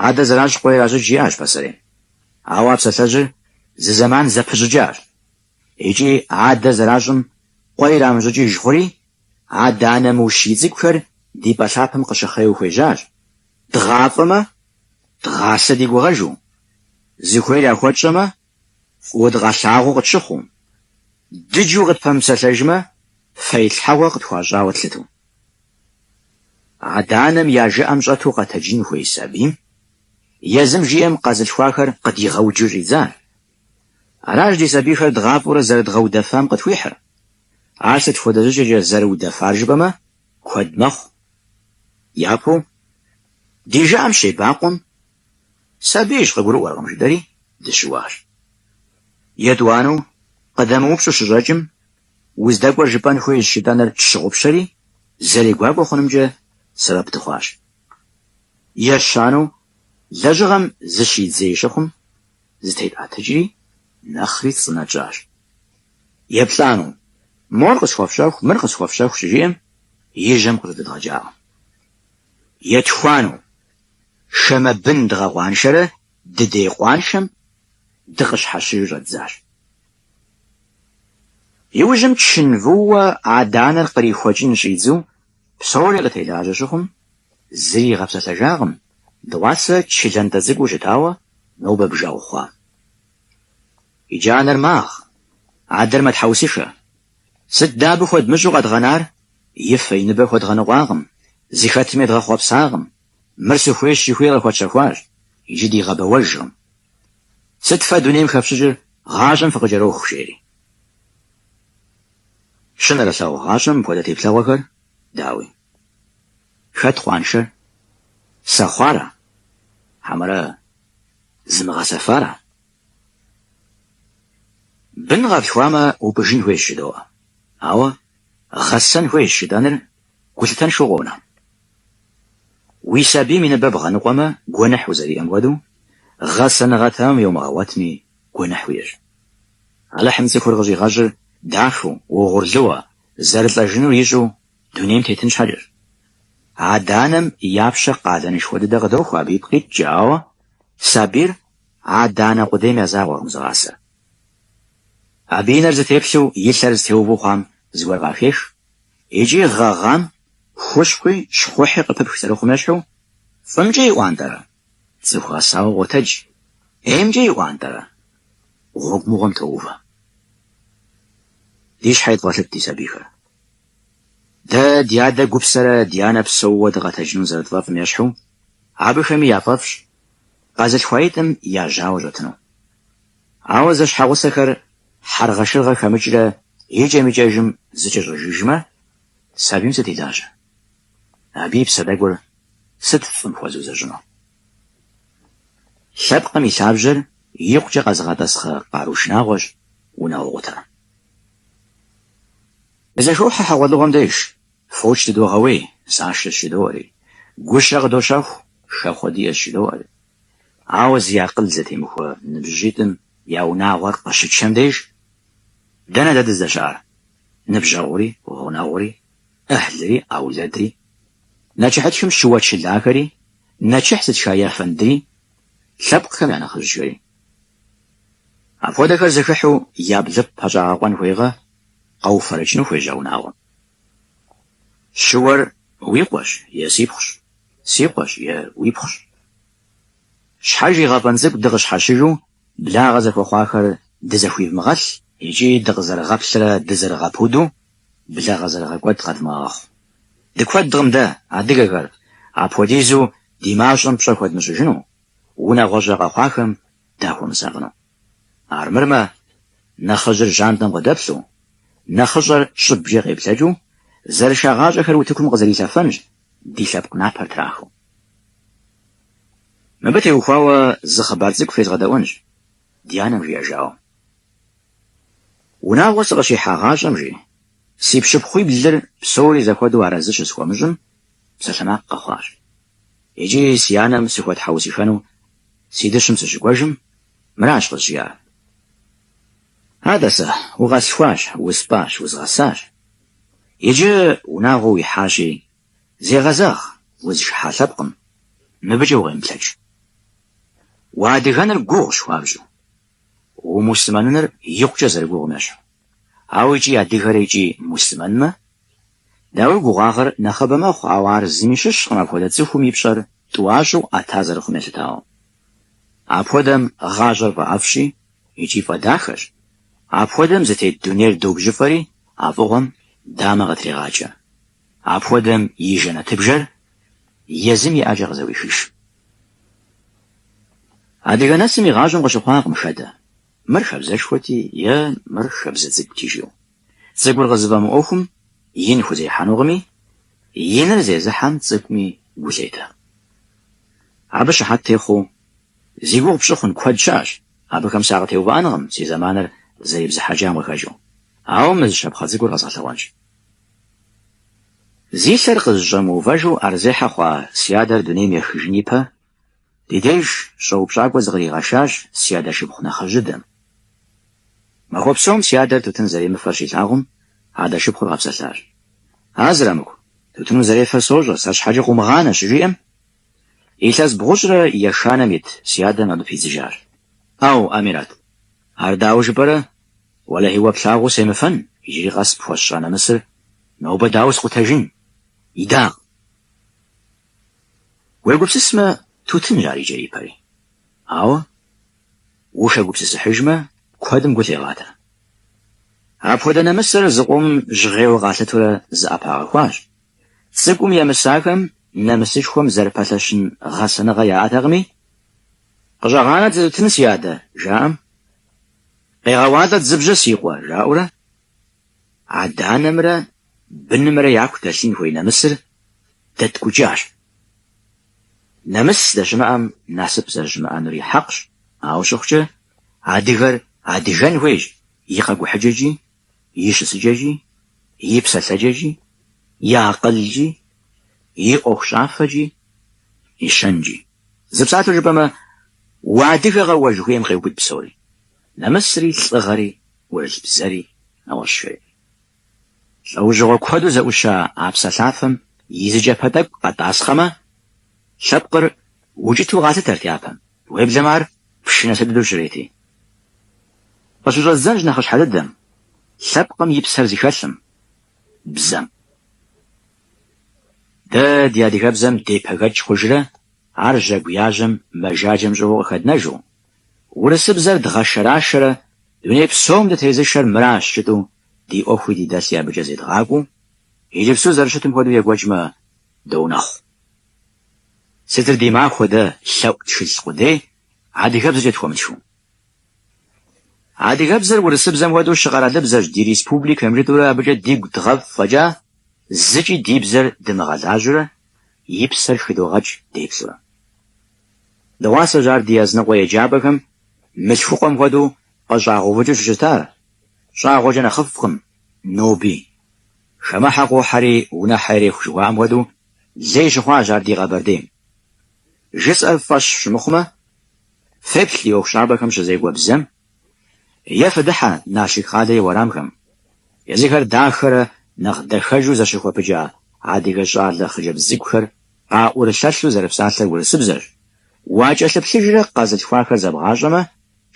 Адэ зэращӏ къуэ иращӏыкӏ жиӏащ пасэрейм. Ауэ а псалъэжьыр зы зэман зэпыщӏыкӏащ. Икӏи адэ зэращӏым къуэ ирамыщӏыкӏыж хъури, адэ-анэ мыущий цӏыкӏухэр ди пӏэ лъапэм къыщыхъеу хуежьащ, Дгъафӏэмэ, дгъасэ ди гугъэжу, зыхуейр яхуэтщӏэмэ, Фӏыуэ дыкъалъагъуу къытщыхъуу, дыджу къытпэмыпсэлъэжмэ, фэилъхьэгъуэ къытхуащӏауэ тлъыту. Адэ-анэм я жыӏэм щӏэту къэтэджын хуей сабийм езым жиӏэм къэзылъхуахэр къыдигъэуджу щӏидзар. Аращ ди сабийхэр дгъафӏэурэ зэрыдгъэудэфам къытхуихьыр. Ар сыт хуэдэ щӏыкӏэкӏэ зэрыудэфар жыпӏэмэ, куэд мэхъу. Япэу, ди жыӏэм щебакъуэм Сабийщ, къыгурыӏуэркъым, жытӏэри, дыщыуащ. Етӏуанэу, къыдэмыупщӏу щыщӏэкӏым, уздэкӏуэр жыпӏэн хуейщ жетӏэныр тщыгъупщэри, зэрегуакӏуэ хъунымкӏэ сэбэп дыхъуащ. Ещанэу, лэжьыгъэм зыщидзей щыхъум, зытетӏэтыкӏри, нэхъри цӏынэ тщӏащ. Еплӏанэу, мор къысхуэфщэху, мыр къысхуэфщэху щыжиӏэм, и жьэм къыжьэдэдгъэкӏакъым. Етхуанэу, хамэ бын дгъэкъуаншэрэ дыдей къуаншэм дыкъыщхьэщыжу щӏэддзащ. Иужьым чын вууэ адэ-анэр кърихуэкӏын щӏидзу псори къытелажьэ щыхъум, зыри игъэпсэлъэжакъым, дыгъуасэ чы лантӏэ цӏыкӏуу щытауэ нобэ бжэгъу хъуам. Иджы анэр магъ, адэр мэтхьэусышэ. Сыт дэ абы хуэдмыщӏу къэдгъэнар? И фэ, и ныбэ хуэдгъэныкъуакъым, зыхэтым едгъэхъуэпсакъым. Мыр сыхуейщ жыхуиӏэр къыхуэтщэхуащ, иджы дигъэбэуэжкъым. Сыт фэ дунейм хэфщӏыкӏыр, гъащӏэм фыкъыкӏэроху, жери. Щынэрылъагъущ гъащӏэм мыпхуэдэ теплъэгъуэхэр, дауи? Хэт къуаншэр? Сэхъуара? Хьэмэрэ зымыгъэсэфара? Бын къэтлъхуамэ, упӏыжын хуейщ жыдоӏэ. Ауэ гъэсэн хуейщ жытӏэныр гулъытэншэу къонэ. Уи сабийм и ныбэ бгъэныкъуэмэ, гуэныхь узэриӏэм хуэдэу, гъэсэныгъэ тэмэм йомыгъэгъуэтми, гуэныхь уиӏэщ. Алыхьым цӏыхур къыщӏигъэщӏыр дахэу, угъурлыуэ, зэрылӏэжынур ищӏу дунейм тетын щхьэкӏэщ. Адэ-анэм я пщэ къалэнышхуэ дыдэ къыдохуэ абы ипкъ иткӏэ, ауэ сабийр Адэ-анэ къудейм я закъуэкъым зыгъасэр. Абы и нэр зытеплъу и лъэр зытеуву хъуам зыгуэр къахех икӏи гъэгъам хущхъуи щхъухьи къыпыпх зэрыхъум ещхьу, фӏымкӏэ иӏуантӏэрэ, цӏыху гъэсауэ къотэдж. ӏеймкӏэ иӏуантӏэрэ, гъуэгу мыгъуэм тоувэ. Ди щхьэ едывгъэлъыт ди сабийхэр. Дэ ди адэ гупсэрэ ди анэ псэууэ дыкъэтэджыну зэрытфӏэфӏым ещхьу, абыхэми яфӏэфӏщ, Къэзылъхуаитӏым я жьауэ щӏэтыну. Ауэ зэщхьэгъусэхэр хьэргъэшыргъэ хэмыкӏрэ икӏэм-икӏэжым зэкӏэщӏэжыжмэ, сабийм сыт и лажьэ? Абы и псэ тӏэкӏур сыт фӏым хуэзыузэщӏыну? Лъэпкъым и лъабжьэр икъукӏэ къэзыгъэтӏасхъэ къару шынагъуэщ унагъуэ къутэр. Дызэхохьэ хьэгъуэлӏыгъуэм деж. Фоч дыдогъэуей, нысашэщ жыдоӏэри, гущэ къыдощэху, хэхъуэ диӏэщ жыдоӏэри. Ауэ зи акъыл зэтемыхуэ ныбжьыщӏитӏым я унагъуэр къыщычэм деж, дэнэ дэ дыздэщыӏар? Ныбжьэгъури, гъунэгъури, ӏыхьлыри, аулэдри, нэчыхьытхым щыуэчылахэри, нэчыхь зытха ефэндри, лъэпкъхэм я нэхъыжьхэри. Апхуэдэхэр зэхыхьу я блыпкъ пэщӏагъэкъуэн хуейкъэ, къэуфэрэкӏыну хуежьа унагъуэм. Щыуэр уи къуэщ е си пхъущ? Си къуэщ е уи пхъущ? Щхьэж и гъэфӏэн цӏыкӏу дыкъыщхьэщыжу, благъэ зэхуэхъуахэр дызэхуивмыгъэлъ икӏи дыкъызэрыгъэплърэ дызэрыгъэпуду благъэ зэрыгъэкӏуэд къэдмыгъэгъэхъу. Дыкуэдкъым дэ, адыгэхэр, апхуэдизу ди мащӏэм пщӏэ хуэдмыщӏыжыну, унагъуэщӏэ къэхъуахэм дахуэмысакъыну. Армырмэ, нэхъыжьыр жьантӏэм къыдэплъу, нэхъыщӏэр щӏыбкӏэ къеплъэкӏыу, зэрышагъащӏэхэр утыкум къызэрилъэфэнщ, ди лъэпкъ напэр трахыу. Мыбы теухуауэ зы хъыбар цӏыкӏу фезгъэдэӏуэнщ, ди анэм жиӏэжауэ. Унагъуэ сыкъыщихьагъащӏэм, жи, си пщыпхъуиблыр псори зэхуэдэу арэзы щысхуэмыщӏым, псалъэмакъ къэхъуащ икӏи си анэм сыхуэтхьэусыхэну Си дыщым сыщыкӏуэжым, мыращ къызжиӏар. Атӏэ сэ, укъэслъхуащ, успӏащ, узгъэсащ. Иджы унагъуэ уихьащи, зегъэзэгъ, узышыхьа лъэпкъым, мыбыкӏэ укъемыплъэкӏ. Уадыгэныр гугъущ хуабжьу, умуслъымэныныр икъукӏэ зэрыгугъум ещхьу. Ауэ икӏи адыгэрэ икӏи муслъымэнмэ, дауи гугъуагъэр нэхъыбэ мэхъу, ауэ ар зыми щыщкъым апхуэдэ цӏыхум и пщӏэр тӏуащӏэу ӏэта зэрыхъум елъытауэ. Апхуэдэм гъащӏэр фӏэӏэфӏщи икӏи фӏэдахэщ, апхуэдэм зытет дунейр добжьыфӏэри а фӏыгъуэм дамэ къытрегъакӏэ. Апхуэдэм и жэнэтыбжэр езым и ӏэкӏэ къызэӏуихыж. Адыгэ нэсым и гъащӏэм къыщыхъуакъым хэдэ. Мыр хабзэшхуэти е мыр хабзэ цӏыкӏути жиӏэу. Цӏыкӏур къызыфӏэмыӏуэхум, ин хузехьэнукъыми, иныр зезыхьэм цӏыкӏуми гу лъетэ. Абы щыхьэт техъуэу, зи гугъу пщӏы хъун куэд щыӏэщ, абыхэм сакъытеувыӏэнкъым си зэманыр зэрибзыхьэкӏам къыхэкӏыу, ауэ мы зы щапхъэ цӏыкӏур къэзгъэлъэгъуэнщ. Зи лъэр къызыщӏэмыувэжу ӏэрызехьэ хъуа си адэр дунейм ехыжын ипэ Ди деж щӏэупщӏакӏуэ зыкъригъэшащ си адэ шыпхъу нэхъыжьыдэм. Махуэ псом си адэр тутын зэремыфэр щилъагъум, адэ шыпхъур къэпсэлъащ. А Зрамыку, тутын узэрефэр сощӏэ, сэр щхьэкӏэ къыумыгъанэ, щыжиӏэм, илъэс бгъущӏрэ ешанэм ит си адэм абы пидзыжащ. Ӏэу, Амират, ар дауэ жыпӏэрэ? Уэлэхьи, уэ плъагъуу семыфэн, иджыри къэс пхуэсщӏа нэмысыр нобэ дауэ скъутэжын? Идакъ. Уегупсысмэ, тутынщ ар и кӏэри и пэри. Ауэ, ущӏэгупсысыхьыжмэ, куэдым гу лъегъатэ. Апхуэдэ нэмысыр зы къомым жьгъейуэ къалъытурэ зыӏэпагъэхуащ. Цӏыкӏум емысахэм нэмысышхуэм зэрыпэлъэщын гъэсэныгъэ яӏэтэкъыми, Къыщӏэгъанэт зы тутын, си адэ, жаӏэм, Къегъэуалӏэт зы бжьэ, си къуэ, жаӏэурэ, Адэ-анэмрэ бынымрэ яку дэлъын хуей нэмысыр дэткӏукӏащ. Нэмыс здэщымыӏэм насып зэрыщымыӏэнури хьэкъщ, ауэ щыхъукӏэ, адыгэр адыгэн хуейщ и къэкӏухьыкӏэкӏи, и щысыкӏэкӏи, и псэлъэкӏэкӏи, и акъылкӏи, и ӏуэхущӏафэкӏи, и щэнкӏи. Зы псалъэу жыпӏэмэ, уадыгэкъэ уэ жыхуиӏэм къеубыд псори. Нэмысри, лӏыгъэри, ӏурылъ бзэри, нэгъуэщӏхэри. Лӏэужьыгъуэ куэду зэӏуща а псалъафэм и зы кӏапэ тӏэкӏу къэтӏасхъэмэ, лъэпкъыр укӏытэу къалъытэрт япэм, уеблэмэ ар пщы нэс дыдэу щрети. Къыщыщӏэздзэнщ нэхъыщхьэ дыдэм, лъэпкъым и псэр зыхэлъым, бзэм. Дэ ди адыгэбзэм депэгэкӏ хъужрэ, ар жьэгу яжьэм мэжаджэм щӏыгъуу къыхэднэжу, Урысыбзэр дгъэшэрашэрэ дуней псом дытезышэр мыращ жытӏэу ди ӏуэхуи ди дэлъи абыкӏэ зедгъакӏуэу, иджыпсту зэрыщытым хуэдэу екӏуэкӏмэ доунэхъу. Сытыр ди махуэ дэ лъэӏу тхылъ къудей адыгэбзэкӏэ тхуэмытхыу. Адыгэбзэр урысыбзэм хуэдэу щыкъэралыбзэщ ди республикэм жытӏэурэ абыкӏэ дигу дгъэфӏ фӏэкӏа зыкӏи ди бзэр дымыгъэлажьэурэ и псэр хыдогъэкӏ деплъурэ. Дыгъуасэщ ар ди языныкъуэ еджапӏэхэм мылъхукъуэм хуэдэу къыщӏагъэувыкӏыу щыщытар, щӏагъуэкӏэ нэхъыфӏкъым ноби. Хамэхьэ къохьэри унэхьэ иреху жыхуаӏэм хуэдэу лей щыхъуащ ар ди Къэбэрдейм. Жысӏэр фӏэщ щымыхъумэ, феплъ ди ӏуэхущӏапӏэхэм щызекӏуэ бзэм, Е фыдыхьэ Налшык къалэ и уэрамхэм, езыхэр дахэрэ нэхъ дахэжу зэщыхуэпыкӏа адыгэ щӏалэ хъыджэбз цӏыкӏухэр къаӏурылъэлъу зэрыпсалъэр урысыбзэрщ, уакӏэлъыплъыжрэ къэзылъхуахэр зэбгъащӏэмэ,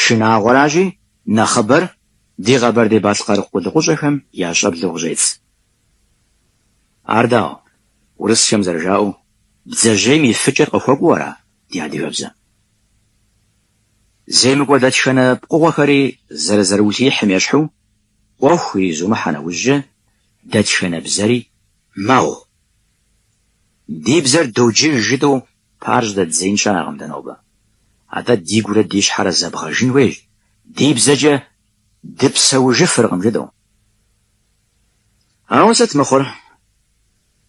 шынагъуэращи, нэхъыбэр ди къэбэрдей-балъкъэр къулыкъущӏэхэм я щӏэблэу къыщӏедз. Ар дауэ, урысхэм зэрыжаӏэу, бдзэжьейм и фыкӏэр къыхуэкӏуэу ара ди адыгэбзэм? Земыкӏуэ дэтхэнэ пкъыгъуэхэри зэрызэрыулъиихьым ещхьу, ӏуэху иризумыхьэ нэужькӏэ, дэтхэнэ бзэри мэгъу. Ди бзэр доджыж жытӏэу пыӏэр щӏыдэддзеин щыӏэкъым дэ нобэ. Атӏэ дигурэ ди щхьэрэ зэбгъэжын хуейщ, ди бзэкӏэ дыпсэужыфыркъым жытӏэу. Ауэ сыт мыхъур?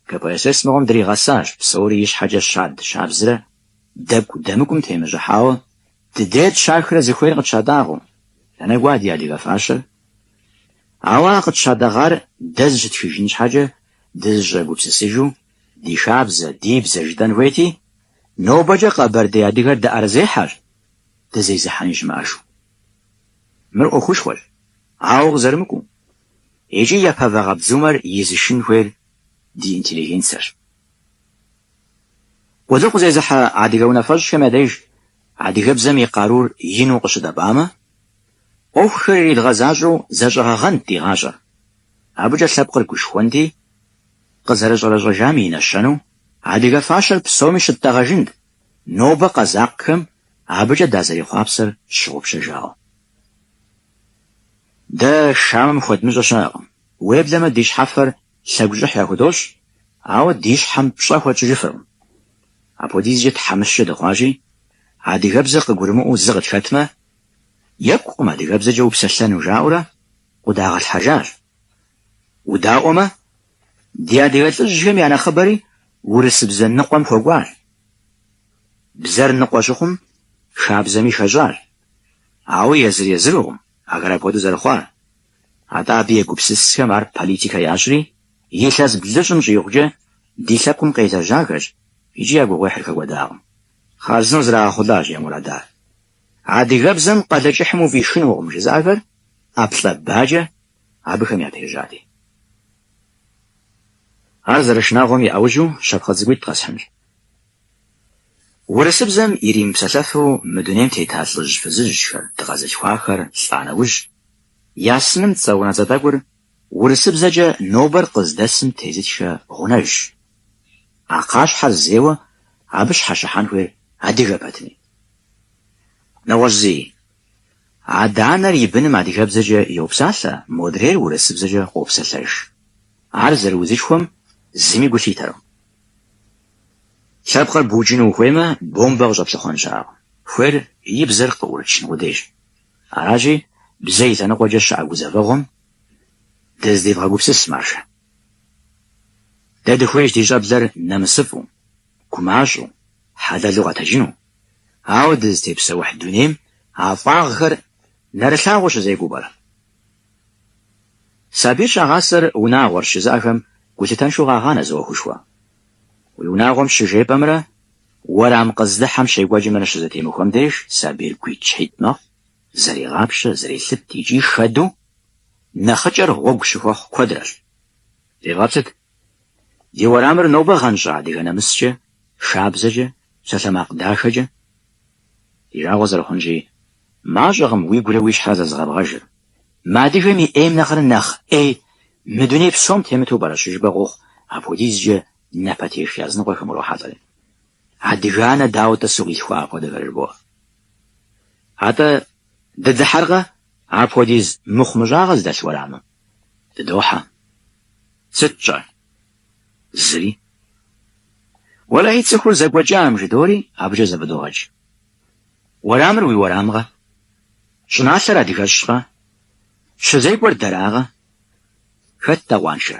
КПСС мыгъуэм дригъэсащ псори ищхьэкӏэ щад щабзрэ дэкӏу дэмыкӏум темыщӏыхьауэ дыдейр тщахрэ зыхуейр къытщатӏагъэу. Дэнэ кӏуа ди адыгэ фащэр? Ауэ ар къытщатӏэгъар дэ зыщытхыжын щхьэкӏэ дызыщӏэгупсысыжу ди хабзэ, ди бзэ жытӏэн хуейти, нобэкӏэ къэбэрдей адыгэр дыӏэрызехьэщ дызезыхьэни щымыӏэжу. Мыр ӏуэхушхуэщ, ауэ къызэрымыкӏуэу. Икӏи япэ вагъэбдзумэр изышын хуейр ди интеллигенцэрщ. Къулыкъу зезыхьэ адыгэ унафэщӏхэм я деж адыгэбзэм и къарур ину къыщыдэбамэ, ӏуэхухэр иридгъэзащӏэу зэщӏэгъэгъэнт ди гъащӏэр, абыкӏэ лъэпкъыр гушхуэнти, къызэрыщӏэрэщӏэжам и нэщэнэу адыгэ фащэр псоми щыттӏэгъэжынт, нобэ къэзакъхэм абыкӏэ дазэрехъуапсэр тщыгъупщэжауэ. Дэ хамэм хуэдмыщӏэ щыӏэкъым. Уеблэмэ ди щхьэфэр лъэгущӏыхь яхудощӏ, ауэ ди щхьэм пщӏэ хуэтщӏыжыфыркъым. Апхуэдизкӏэ тхьэмыщкӏэ дыхъуащи, адыгэбзэр къыгурымыӏуэу зы къытхэтмэ, екӏукъым адыгэбзэкӏэ упсэлъэну жаӏэурэ къуэдагъэлъхьэжащ. Удаӏуэмэ, ди адыгэ лӏыжьхэм я нэхъыбэри урысыбзэ ныкъуэм хуэкӏуащ. Бзэр ныкъуэ щыхъум, хабзэми хэщӏащ. Ауэ езыр-езырукъым ахэр апхуэдэу зэрыхъуар. Атӏэ абы егупсысхэм ар политикэ ящӏри, илъэс блыщӏым щӏигъукӏэ ди лъэпкъым къелэжьахэщ икӏи я гугъуехьыр хэкӏуэдакъым. Хъарзынэу зрагъэхъулащ я мурадыр. Адыгэбзэм Къалэкӏыхьым уфӏишынукъым жызыӏэхэр ӏэплӏэ-бакӏэ абыхэм япежьати. Ар зэрышынагъуэм и ӏэужьу щапхъэ цӏыкӏуитӏ къэсхьынщ. Урысыбзэм иримыпсэлъэфу мы дунейм тета лӏыжь фызыжьхэр, дыкъэзылъхуахэр лӏа нэужь, я сыным цӏэ унэцӏэ тӏэкӏур урысыбзэкӏэ нобэр къыздэсым тезытхэ гъунэжщ. А кхъащхьэр зейуэ абы щхьэщыхьэн хуейр адыгэ пэтми. Нэгъуэщӏ зыи, адэ-анэр и быным адыгэбзэкӏэ йопсалъэ, модрейр урысыбзэкӏэ къопсэлъэж. Ар зэрыузышхуэм зыми гу лъитэркъым. Лъэпкъыр букӏыну ухуеймэ, бомбэ къыщӏэплъыхъуэн щыӏэкъым. Хуейр и бзэр къыӏурычын къудейщ. Аращи, бзэ и лъэныкъуэкӏэ щыӏэ гузэвэгъуэм дызэдевгъэгупсыс, маржэ. Дэ дыхуейщ ди щӏэблэр нэмысыфӏу, гумащӏэу, хьэлэлу къэтэджыну, ауэ дызытепсэухь дунейм а фӏагъхэр нэрылъагъуу щызекӏуэу пӏэрэ. Сабийр щагъасэр унагъуэрщ жызыӏэхэм гулъытэншэу къагъанэ зы ӏуэхушхуэ. Уи унагъуэм щыжепӏэмрэ уэрам къыздыхьэм щекӏуэкӏымрэ щызэтемыхуэм деж сабийр гуитӏщхьитӏ мэхъу, зэрегъапщэ, зэрелъыт икӏи хэдэу нэхъыкӏэр гъуэгу щыхуэхъу куэдрэщ. Девгъэплъыт, ди уэрамыр нобэ гъэнщӏа адыгэ нэмыскӏэ, хабзэкӏэ, псалъэмакъ дахэкӏэ. Ди жагъуэ зэрыхъунщи, мащӏэкъым уигурэ уи щхьэрэ зэзыгъэбгъэжыр. Мы адыгэм и ӏейм нэхърэ нэхъ ӏей мы дуней псом темыту пӏэрэ щыжыпӏэ къохъу апхуэдизкӏэ напэтех языныкъуэхэм урохьэлӏэри. Адыгэ анэ дауэ-тӏэ къилъхуа апхуэдэхэр жыбоӏэ? Атӏэ, дыдыхьэркъэ апхуэдиз мыхъумыщӏагъэ зыдэлъ уэрамым? Дыдохьэ. Сыт тщӏэр? Зыри. Уэлэхьи, цӏыхур зэкӏуэкӏам жыдоӏэри абыкӏэ зэфӏыдогъэкӏ. Уэрамыр уи уэрамкъэ? Щӏыналъэр адыгэщкъэ? Щызекӏуэр дэракъэ? Хэт дгъэкъуаншэр?